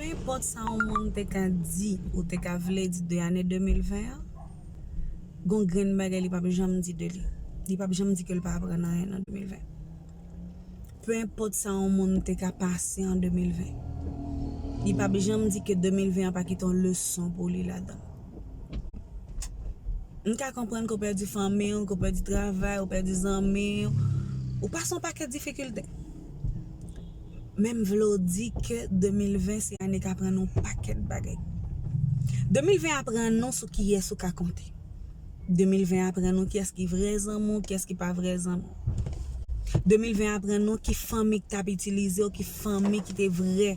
Peu enpòt sa yon moun te ka di ou te ka vle di de ane 2020 an, gon grenn bagay li pap janm di de li. Li pap janm di ke l pa aprann anyen nan 2020. Peu enpòt sa yon moun te ka pase an 2020, li pap janm di ke 2020 an pa kite yon leson pou li ladan. M ka konprann ke w pèdi fanmi w, ke w pèdi travay, ou pèdi zanmi, ou pase yon pakèt difikilte. Men m vle w di ke 2020 se ane k aprann ou pakèt bagay. 2020 aprann ou sou kiyès ou ka konte. 2020 aprann ou kiyès ki vrè zanmi w, kiyès ki pa vrè zanmi w. 2020 aprann ou ki fanmi ki t ap itilize w, ki fanmi ki te vrè,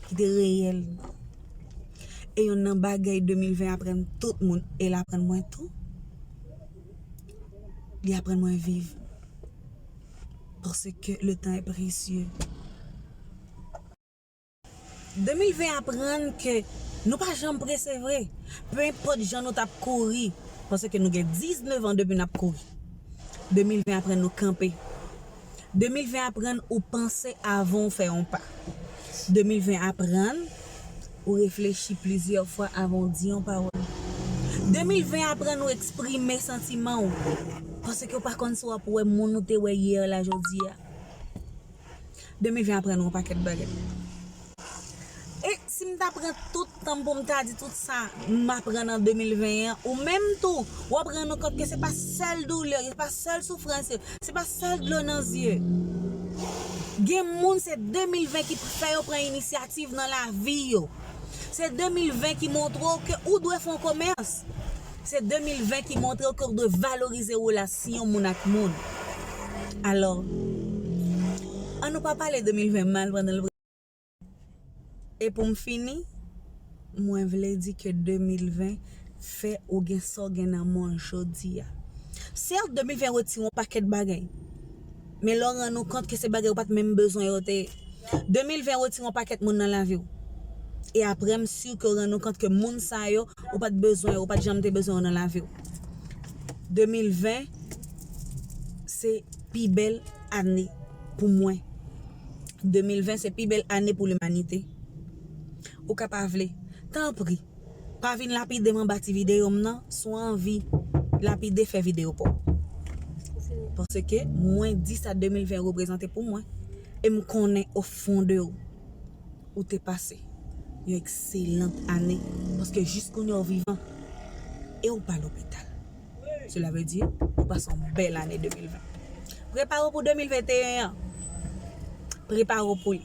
ki te reyèl. E yonn nan bagay 2020 aprann tout moun, e l aprann mwen tou. Li aprann mwen viv. Paske ke le tan e presye. 2020 aprann ke nou pa janm prese vre. Pe enpot jan nou tap kouri. Paske nou gen 19 an depi nap kouri. 2020 aprann nou kanpe. 2020 aprann ou panse avan ou fè yon pa. 2020 aprann ou reflechi plizyè fwa avan ou di yon pawòl. 2020 aprann ou eksprime santiman ou, paske ou pa konn si w ap wè moun ou te wè yè la jodi a. 2020 aprann ou yon pakèt bagay. E si m ta pran tout tan m pou m ta di tout sa m aprann an 2020 an, ou menm tou, w ap rann ou kont ke se pa sèl doulè, se pa sèl soufrans yo, se pa sèl dlo nan zye. Gen moun se 2020 ki fè yo pran inisyativ nan lavi yo. Se 2020 ki montre w ke ou dwe fè yon komès. Se 2020 ki montrew ke ou dwe valorize relasyon moun ak moun. Alò, an nou pa pale 2020 mal pandan l prese nou. E pou m fini, mwen vle di ke 2020 fè ou gen sa w gen nan men w jodi a. Sèt, 2020 retire yon pakèt bagay. Men lè w rann ou kont ke se bagay ou pat menm bezwen yo te ye. 2020 retire yon pakèt moun nan lavi w. E aprè m sur ke w rann ou kont ke moun sa yo ou pat bezwen yo, ou pat janm te bezwen yo nan lavi w. 2020 se pi bèl ane pou mwen. 2020 se pi bèl ane pou limanite. Ou ka pa vle. Tanpri. Pa vin lapidem anba ti video m nan, si w anvi lapide fè video pa w. Paske mwen di sa 2020 reprezante pou mwen e m konnen o fon de w ou te pase yon ekselan ane paske jis kounya w vivan e w pa lopital. Sela vle di ou pase yon bèl ane 2020. Prepare w pou 2021 an. Prepare w pou li.